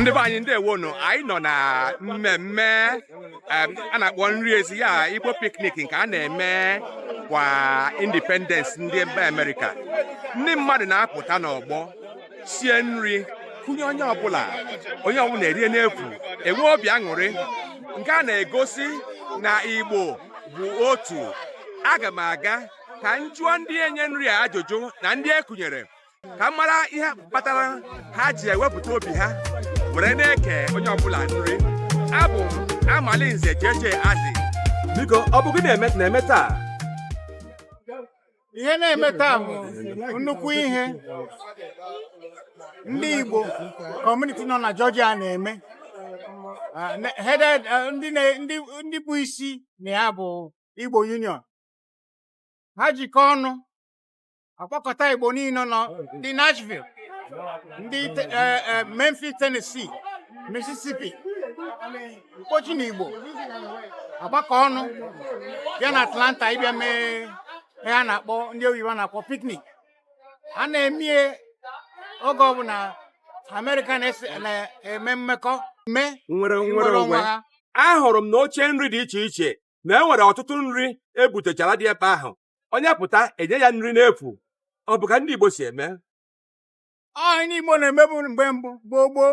ndị be anyị ndewo nụ anyị nọ na mmemme a na-akpọ nri ezi ya Igbo piknik nke a na-eme kwa independence ndị mba Amerịka ndị mmadụ na-apụta n'ọgbọ sie nri kụnye onye ọbụla onye ọbụla erie n'efu enwe obi aṅụrị nke a na-egosi na igbo bụ otu aga m aga ka m jụọ ndị enye nri a ajụjụ na ndị e kụnyere ka m mara ihe kpatara ha ji ewepụta obi ha were na-eke onye ọbụla nri abụ m amalinze jeje azi biko ọ bụ gịnị na-eme taa ihe na-eme taa bụ nnukwu ihe ndị Igbo kọmuniti nọ na Georgia na-eme Ah, ne- headed ah, ndị na- ndị ndị bụ isi na ya bụ Igbo Union ha jikọ ọnụ akpọkọta Igbo niile nọ ndị Nashville ndị te- eh, eh, Memphis Tennessee Mississippi mkpochi na igbo agbakọ ọnụ bịa na atlanta ịbịa mee ihe a na-akpọ ndị oyibo na-akpọ piknik a na-emie oge ọbụla amerịka na-eme mmekọ mme nwere nnwere onwe ha ahụrụ m na oche nri dị iche iche na e nwere ọtụtụ nri ebutechara dị ebe ahụ onye pụta enye ya nri n'efu ọ bụ ka ndị Igbo si eme ọ ndị Igbo na-emebu mgbe mbụ gboo gboo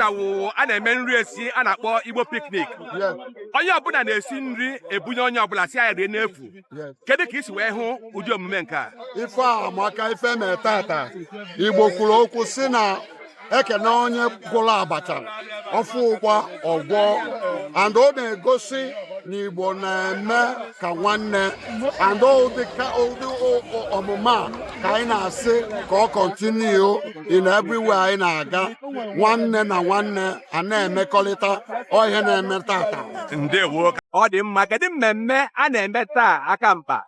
tata wụ a na-eme nri ezi a na-akpọ igbo piknik onye ọbụla na-esi nri ebunye onye ọbụla sị ya rie n'efu kedu ka i si wee hụ ụdị omume nke a ife amaka ife na-eme tata igbo kwuru okwu sị na ekene onye gwọrọ abacha ọ fụ ụgba ọ gwọ and ọ na-egosi na igbo na-eme ka nwanne and ụdị omume a ka anyị na-asị ka ọ kọntiniu in everywhere anyị na-aga nwanne na nwanne a na-emekọrịta ọ ihe na-eme tata ọ dị mma kedu mmemme a na-eme taa aka mkpa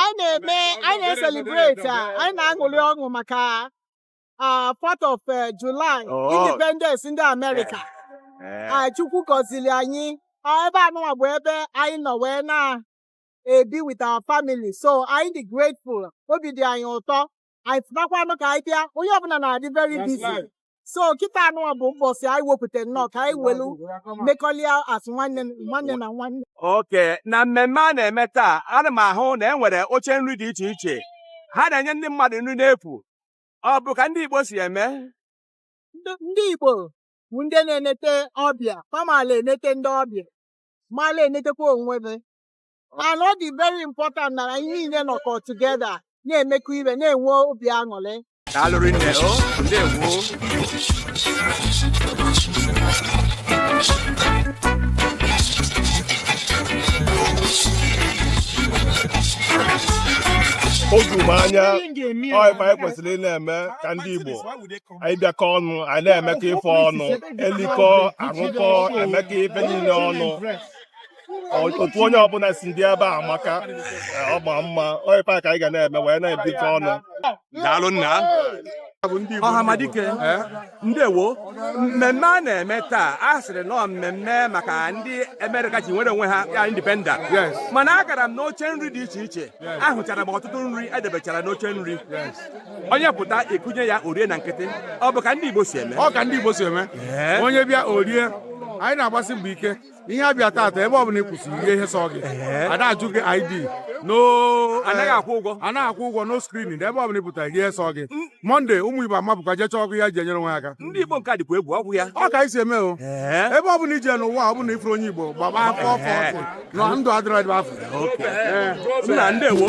anyị na-eme anyị na-eselibreti a anyị na-aṅụrị ọṅụ maka ah, 4th of July Independence ndị Amerịka Eh, Ah, Chukwu gọziri anyị Ah, ebe anụnwa bụ ebe anyị nọ wee na-ebi with our family so anyị dị grateful obi dị anyị ụtọ anyị fụtakwanụ ka anyị bịa onye ọbụla na-adị very busy so kịta anụnwa bụ mbọsị anyị wepụta nnọọ ka anyị welu mekọlịa as nwanne na nwanne okay na mmemme a na-eme taa ana m ahụ na e nwere oche nri dị iche iche ha na-enye ndị mmadụ nri n'efu ọ bụ ka ndị Igbo si eme ndị Igbo bụ ndị na-enete ọbịa fa mala enete ndị ọbịa mala enetekwa onwe ha and ọ dị very important na anyị niile nọkọ together na-emekọ ihe na-enwe obi aṅụrị daalụ rinne o ndewo o juru m anya ọ ife anyị kwesịrị ị na-eme ka ndị Igbo anyị bịakọ ọnụ anyị na-emekọ ife ọnụ elikọ aṅụkọ emekọ ife niile ọnụ otu onye ọbụla si dị ebe a amaka ọ ma mma ọ ife a ka anyị ga na-eme wee na-ebikọ ọnụ daalụ nna ọhamadike ndewo mmemme a na-eme taa a sịrị na ọ mmemme maka ndị Amerịka ji nwere onwe ha ya independence mana agara m n'oche nri dị iche iche ahụchara m ọtụtụ nri e debechara n'oche nri onye pụta ekunye ya o rie na nkịtị ọ bụ ka ndị Igbo si eme ọ ka ndị Igbo si eme onye bịa o rie anyị na-agbasi mbọ ike ihe a bịa taata ebe ọbụla ị kwụsịrị ihe ihe sọ gị a da ajụ gị ID no anaghị akwụ ụgwọ anaghị akwụ ụgwọ no screening ebe ọbụla ị pụtara ihe sọ gị mọnde ụmụ igbo amapụkwa jee chọọ ọkụ ya ji enyere onwe aka ndị igbo nke a dịkwa egwu ọ wụ ya ọ ka anyị si eme o ebe ọbụla i je n'ụwa ọbụla ị fụrọ onye igbo gbaba ọsọ ọsọ ọsọ na ndụ adịrọ ebe afụ nna ndewo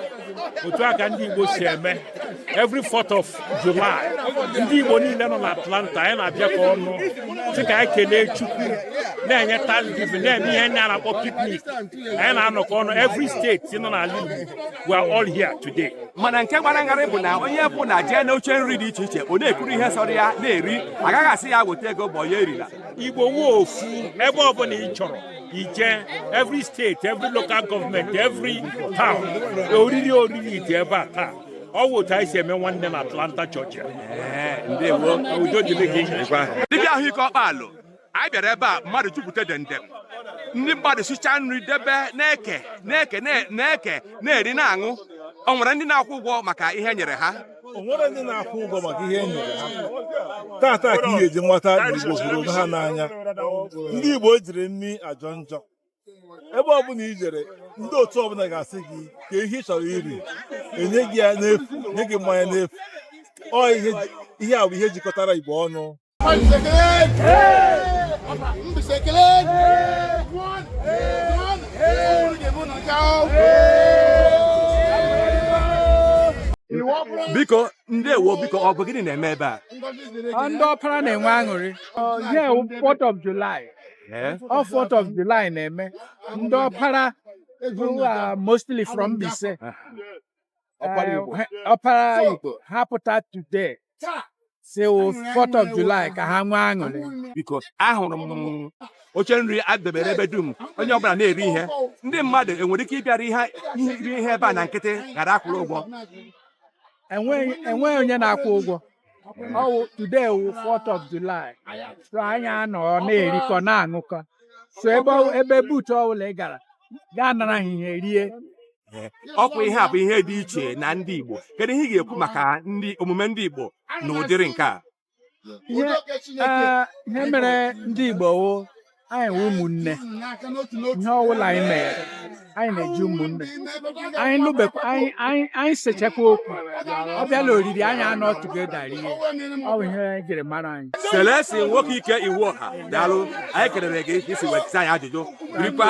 otu a ka ndị Igbo si eme every 4th of July ndị Igbo niile nọ na Atlanta anyị na-abịakọ ọnụ sị ka anyị kelee Chukwu na-enye Thanksgiving na-eme ihe ndị a na-akpọ picnic anyị na-anọkọ ọnụ every state nọ n'ala Igbo we are all here today. mana nke gbara m gharịị bụ na onye ọbụna jee na oche nri dị iche iche ọ na-ekuru ihe sọrọ ya na-eri agaghị asị ya weta ego bụ ya erila igbo nwe ofu ebe ọbụla ị chọrọ ije every state every local government every town oriri oriri dị ebe a taa ọ wụ otu anyị si eme nwanne na atlanta georgia ndewo udo dịrị gị dibịa ahụike ọkpalụ anyị bịara ebe a mmadụ jupụta demdem ndị mmadụ sicha nri debe na-eke eke na-eke na-eri na-aṅụ o nwere ndị na-akwụ ụgwọ maka ihe e nyere ha o nwere ndị na-akwụ ụgwọ maka ihe e nyere ha tata ka ị ga-eji mata na igbo hụrụ onwe ha n'anya ndị igbo ejighị nri ajọ njọ ebe ọbụla i jere ndị otu ọbụla ga-asị gị kaa ihe ị chọrọ iri enye gị ya n'efu nye gị mmanya n'efu ọ ihe ihe a bụ ihe jikọtara igbo ọnụ biko ndewo biko ọ bụ gịnị na-eme ebe a ndị ọpara na-enwe aṅụrị yeah Fourth of July eh? ọ Fourth of July na-eme ndị ọpara who are mostly from Mbaise ọpara igbo ọpara igbo ha pụta today si wụ 4th of July ka ha nwee aṅụrị biko ahụrụ m oche nri adebere ebe dum onye ọbụla na-eri ihe ndị mmadụ enwere ike ịbịara ihe iri ihe ebe a na nkịtị ghara akwụrụ ụgwọ enweghị onye na-akwụ ụgwọ ọwụ today wụ 4th of July so anyị anọ na-erikọ na-aṅụkọ so ebe ọ- ebe booth ọbụla ị gara gaa nara ha ihe rie ọkwa ihe a bụ ihe dị iche na ndị Igbo kedu ihe ị ga-ekwu maka ndị omume ndị Igbo na ụdịrị nke a ihe ee, ihe mere ndị Igbo wụ anyị wụ ụmụnne ihe ọbụla anyị mere anyị na-eji ụmụnne anyị nụbekwa anyị anyị anyị sechakwa okwu ọ bịa na oriri anyị anọ together rie ọ bụ ihe e jiri mara anyị Celestine nwoke ike Iwuọha daalụ anyị kelere gị isi wetịta anyị ajụjụ birikwa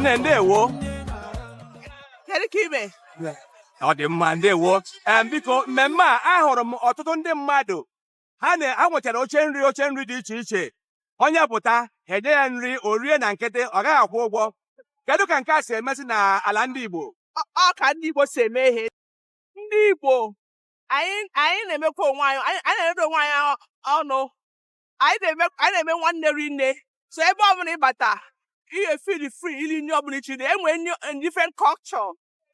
nne ndewo kedu ka ị me ọ dị mma ndewo biko mmemme a ahụrụ m ọtụtụ ndị mmadụ ha na ha nwechara oche nri oche nri dị iche iche onye pụta ha enye ya nri o rie na nkịtị ọ gaghị akwụ ụgwọ kedu ka nke a si emezi na ala ndị Igbo ọ ka ndị Igbo si eme ihe ndị Igbo anyị anyị na-emekwa onwe anyị anyị anyị na-emekọ onwe anyị ọ- ọnụ anyị na-eme anyị na-eme nwanne ri nne so ebe ọbụla ị bata ị feel free iri nri ọbụla ị chọ iri enwe nri in different culture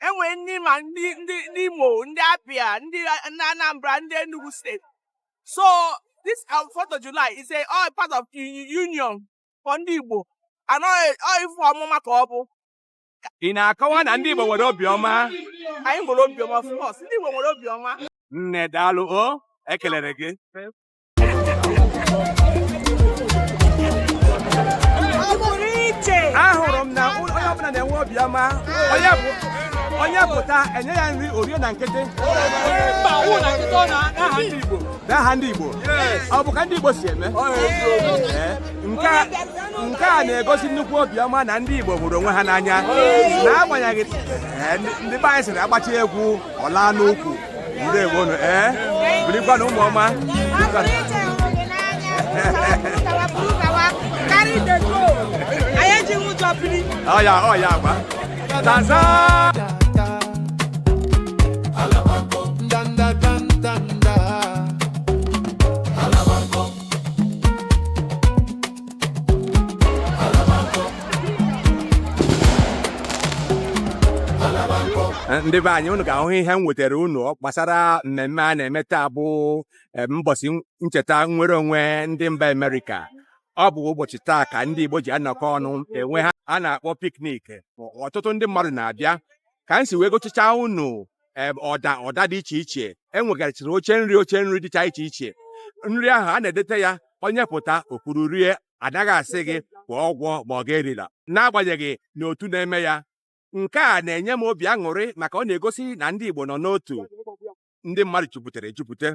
enwe nri ma ndị ndị ndị Imo ndị Abia ndị A- ndị Anambra ndị Enugu State so this um, 4th of July is a all part of u- u- union for ndị Igbo and ọ ife ọmụma ka ọ bụ ị na-akọwa na ndị Igbo nwere obiọma anyị nwere obiọma of course ndị Igbo nwere obiọma nne daalụ o ekelere gị ahụrụ m na onye ọbụla na-enwe obiọma onye bụ onye pụta enye ya nri o rie na nkịtị n'aha ndị Igbo ọ bụ ka ndị Igbo si eme nke a na-egosi nnukwu obiọma na ndị Igbo hụrụ onwe ha n'anya n'agbanyeghị eh, ndị be anyị sịrị agbachi egwu ọ laa n'ukwu ndewo nụ ee eh, birikwanụ ụmụọma ọya ọya agba Eh, ndị be anyị unu ga-ahụ ihe m wetara unu gbasara mmemme a na-eme taa bụ eh, mbọsị ncheta nnwere onwe ndị mba Amerịka ọ bụ ụbọchị taa ka ndị Igbo ji anọkọ ọnụ enwe ihe a na-akpọ piknik ọtụtụ ndị mmadụ na-abịa ka m si wee gosicha unu ọda ọda dị iche iche enwegarịchiri oche nri oche nri dịcha iche iche nri ahụ a na-edete ya onye pụta o kuru rie anaghị asị gị kwụọ ụgwọ ma ọ ga-erila n'agbanyeghị na otu na-eme ya nke a na-enye m obi aṅụrị maka ọ na-egosi na ndị Igbo nọ n'otu ndị mmadụ jupụtara ejupụta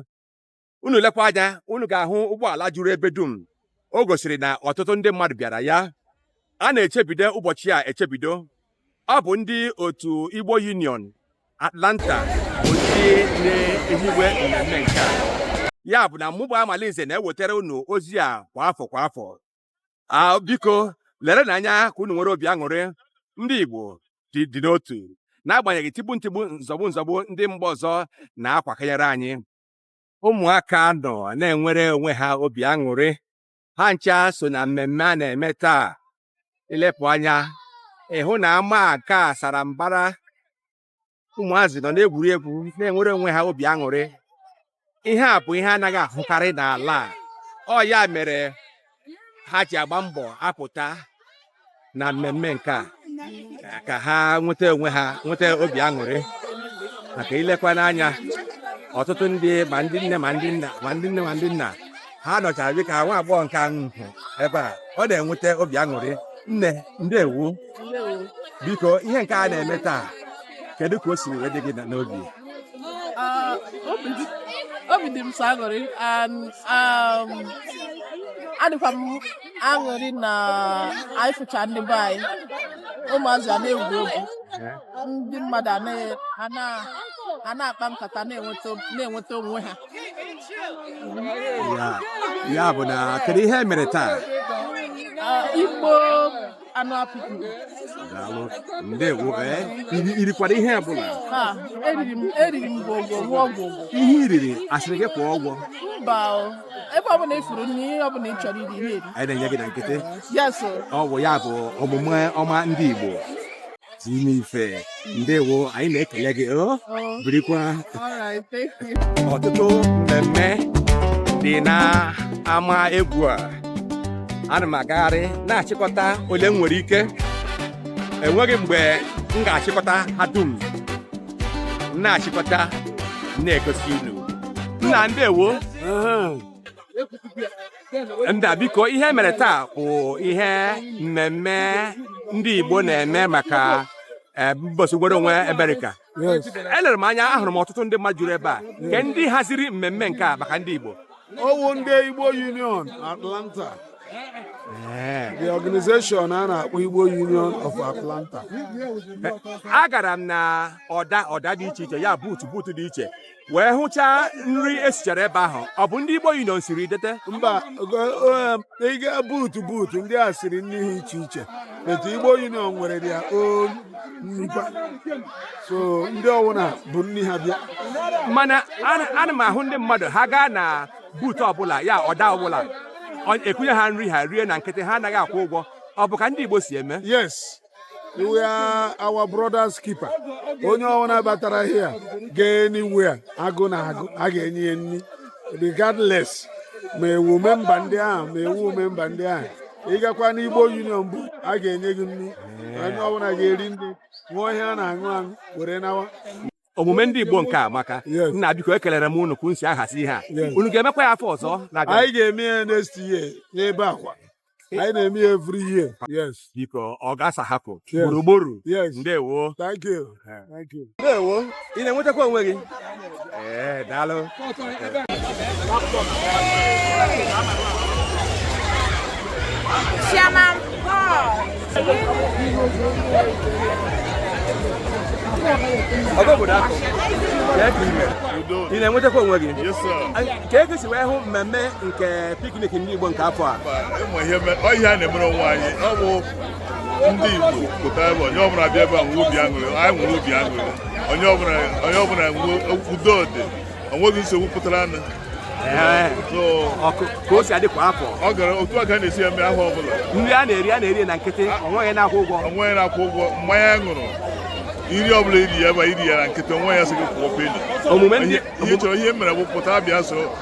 unu lekwa anya unu ga-ahụ ụgbọala juru ebe dum o gosiri na ọtụtụ ndị mmadụ bịara ya a na-echebido ụbọchị a echebido ọ bụ ndị otu Igbo Union Atlanta bụ ndị na-ehiwe mmemme nke a ya bụ na mụ bụ Amalinze na-ewetara unu ozi a kwa afọ kwa afọ a biko lerenụ anya ka unu nwere obi aṅụrị ndị Igbo dị n'otu n'agbanyeghị tigbu ntigbu nzọgbu nzọgbu ndị mba ọzọ na-akwakanyere anyị ụmụaka nọ na-enwere onwe ha obi aṅụrị ha ncha so na mmemme a na-eme taa i lepụ anya ị hụ na ama nke a sara mbara ụmụazị nọ na-egwuri egwu na-enwere onwe ha obi aṅụrị ihe a bụ ihe anaghị ahụkarị n'ala a ọ ya mere ha ji agba mbọ apụta na mmemme nke a ka ha nweta onwe ha nweta obi aṅụrị maka i lekwa n'anya ọtụtụ ndị ma ndị nne ma ndị nna ha nọchara dịka nwa agbọghọ nke ahụ ebe a ọ na-enweta obi aṅụrị nne ndewo biko ihe nke a na-eme taa kedu ka o siri wee dị gị n'obi ah, obi dị m sọ aṅụrị um, adịkwa m aṅụrị na anyị fụcha ndị be anyị ụmụazị a na-egwu egwu ndị mmadụ a na-akpa nkata na-enweta onwe ha ya bụ na kedu ihe e mere taa ah, igbo anụ apịtị daalụ ndewo ee iri- irikwara ihe ọbụla ha eriri m eriri m gwogwo ṅụọ gwogwo ihe iriri asịrị gị kwụọ ụgwọ mba o ebe ọbụla ifuru nri ihe ọbụla ị chọrọ iri eri a na-enye gị na nkịtị yes ọ bụ ya bụ omume ọma ndị Igbo dị n'ife ndewo anyị na-ekele gị oh, birikwa ọtụtụ mmemme dị na ama egwu a ana m agagharị na-achịkọta ole m nwere ike enweghị mgbe m ga-achịkọta ha dum na-achịkọta na-egosi unu nna ndewo nna biko ihe mere taa bụ ihe mmemme ndị Igbo na-eme maka eh, mbọsị nwere onwe Amerịka elere m anya ahụrụ m ọtụtụ ndị mmadụ juru ebe a kee ndị haziri mmemme nke a maka ndị Igbo ọwụ ndị Igbo Union Atlanta Eh. the organization a na-akpọ Igbo Union of Atlanta eh, agara m na ọda ọda dị iche iche ya booth booth dị iche wee hụchaa nri esichara ebe ahụ ọ bụ ndị Igbo Union siri dete mba ị ga booth booth ndị a siri nri ha iche iche but Igbo Union nwere their own nrikwa so ndị ọwụna bu nri ha bịa mana ana m ahụ ndị mmadụ ha gaa na booth ọbụla ya ọda ọbụla ekunye ha nri ha rie na nkịtị ha anaghị akwụ ụgwọ ọ bụ ka ndị Igbo si eme yes we are our brother's keeper onye ọbụla batara here gaa anywhere agụụ na-agụ a ga-enye ya nri regardless ma ị wụ memba ndị ahụ ma ị wụ memba ndị ahụ ịgakwa n'Igbo Union booth a ga-enye gị nri onye ọbụla ga-eri nri ṅụọ ihe a na-aṅụ aṅụ were nawa omume ndị Igbo nke a amaka Yes. nna biko ekelere m unu ka unu si ahazi ihe a Yes. unu ga-emekwa ya afọ ọzọ na-abịa anyị ga-eme ya next year n'ebe a kwa anyị na-eme ya every year yes biko ọ ga-asa hapụ Yes. gburugburu yes ndewo thank you thank you ndewo ị na-enwetakwa onwe gị ee daalụ Chairman Paul. ọgọ obodo akụ kee ka ị me ị na-enwetakwa onwe gị kee ka i si wee hụ mmemme nke piknik ndị Igbo nke afọ a ọ ihe a na-emere onwe anyị ndị Igbo pụta ebe onye ọbụla bịa ebe a nwee obi aṅụrị anyị nwere obi aṅụrị onye ọbụla onye ọbụla nwee udo dị onweghị nsogbu pụtaranụ ka o si adị kwa afọ ọ gara otu a ka a na-esi eme afọ ọbụla nri a na-eri a na-eri na nkịtị onweghị na-akwụ ụgwọ onweghị na-akwụ ụgwọ mmanya a ṅụrụ nri ọbụla iri ya ebe iri ya na nkịtị onweghị a sị gị kwụọ peni omume ndị ihe chọrọ ihe mere bụ pụta bịa so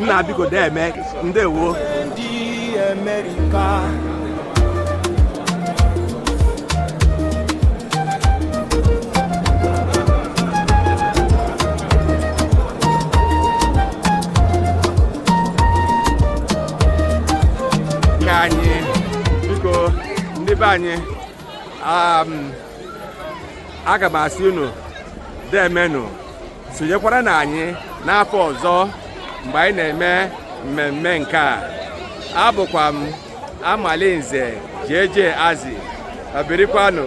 nna biko dee eme ndewo ebe anyị um, aga m asị unu demenụ sonyekwara na anyị n'afọ ọzọ mgbe anyị na-eme mmemme nke a abụkwa m amalinze jeje azi abirikwanụ